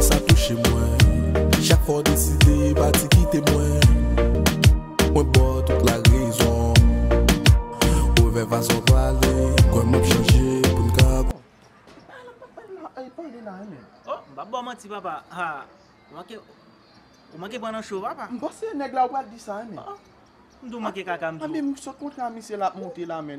Sa touche mwen Chak fwa w deside pati kite mwen Mwen ba w tout la rezon Revè fason w pale Kwè m ap chanje pou n ka Oh m pap ba w manti papa Ou manke pran nan cho papa Oh m di w manke kaka m di w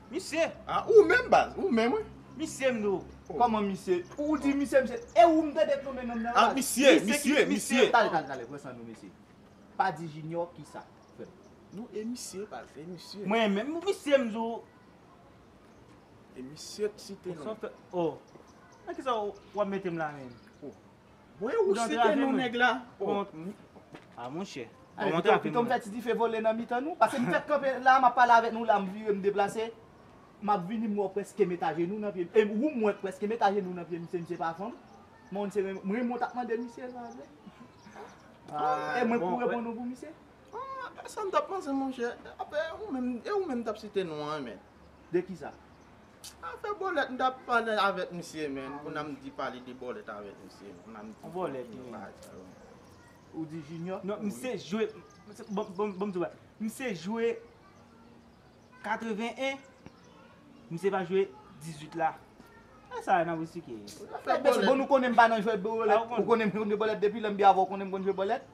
Misye. A ou menm baz, ou menm wi. Misye m nou. Koman misye. Ou di misye misye. E ou m tande k nonmen nonm nan baz. A misye, misye, misye. Tale tale tale pran san nou mesye. Pa di Junior kisa frè m. Non e misye baz, e misye. Mwen menm misye m di w. E misye k site non. Oh nan kisa w ap mete m la menm. Mwen ou site non nèg la. A monchè. Pito m fè ti dife vole nan mitan nou. Pase m fèk kanpe la a m ap pale avèk nou la a m vire m deplase. M ap vini m wè w prèske met ajenou nan pye m. E ou m wè k prèske met ajenou nan pye m misye misye pa fanm. M'en w se renmen m renmen w t ap mande misye sa a vre. E mwen k pou reponn ou pou misye. E sa m t ap panse monchè. Apre ou menm e ou menm m t ap site non an men. De kisa? Afè bòlèt m tap pale avèk misye menn pou nan m di pale de bòlèt avèk misye menn pou nan m di bòlèt de bagay sa yo menn. Ou di junior? Non misye jwe bon m di w bagay misye jwe 81 misye pa jwe 18 la. Esa nan wi sike. Bon nou konnen m pa nan jwèt bòlèt ou konnen m jwe bòlèt depi lè m te avè w konnen m konn jwe bòlèt.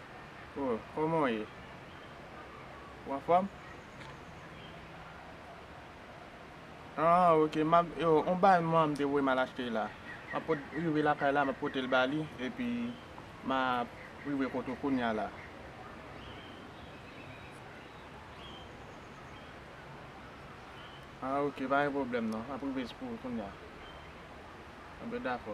Oh koman w ye? Ou anfòm? Ah ok map yo on bal mwen m te voye mal achte la. Map pot rive lakay la map pote l ba li epi ma rive kot ou kounya la. Ah ok pa gen pwoblèm non map rive pou ou kounya. Bon dakò.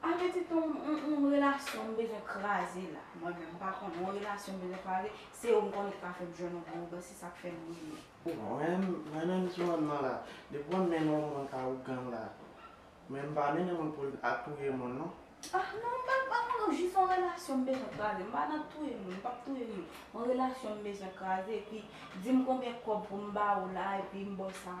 Pa mete ton yon relasyon m bezwen kraze la mwen menm m pa konn yon relasyon m bezwen kraze se ou m konnen ki ka fè m jwenn yon bon ougan se sak fè m renmen. Mwen menm sou an nan la depi mwen mennen yon moun ka ougan la men m pa mennen moun pou l al touye moun non. Ah non m pa m pa konn jis yon relasyon m bezwen kraze m pa nan touye moun m pap touye moun yon relasyon m bezwen kraze epi di m konbyen kòb pou m ba ou la epi m ba w sa.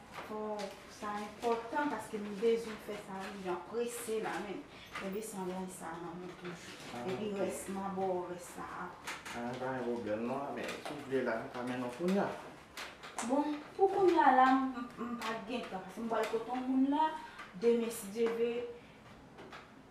Oh sa enpòtan paske m bezwen fè sa wi jan prese la menm. Kenbe sangay sa nan menw toujou. Epi rès ma ba w rès la aprè. Ah pa gen pwoblèm non a men si w vle la m ka mennen w kounya. Bon pou kounya la m pa gen tan paske m pwal kote yon moun la demen si Dye vle.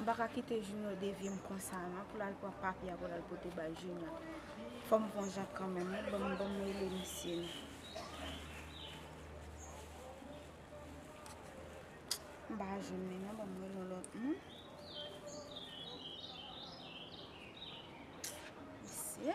M paka kite junior devyem konsa nan pou lal pran papya pou lal pote bay junior fòm pran jak kanmenm wi banm banm rele misye nan m pa jwenn li nan banm rele yon lòt moun mesye.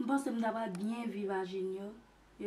M panse m ta pral byen viv a Junior e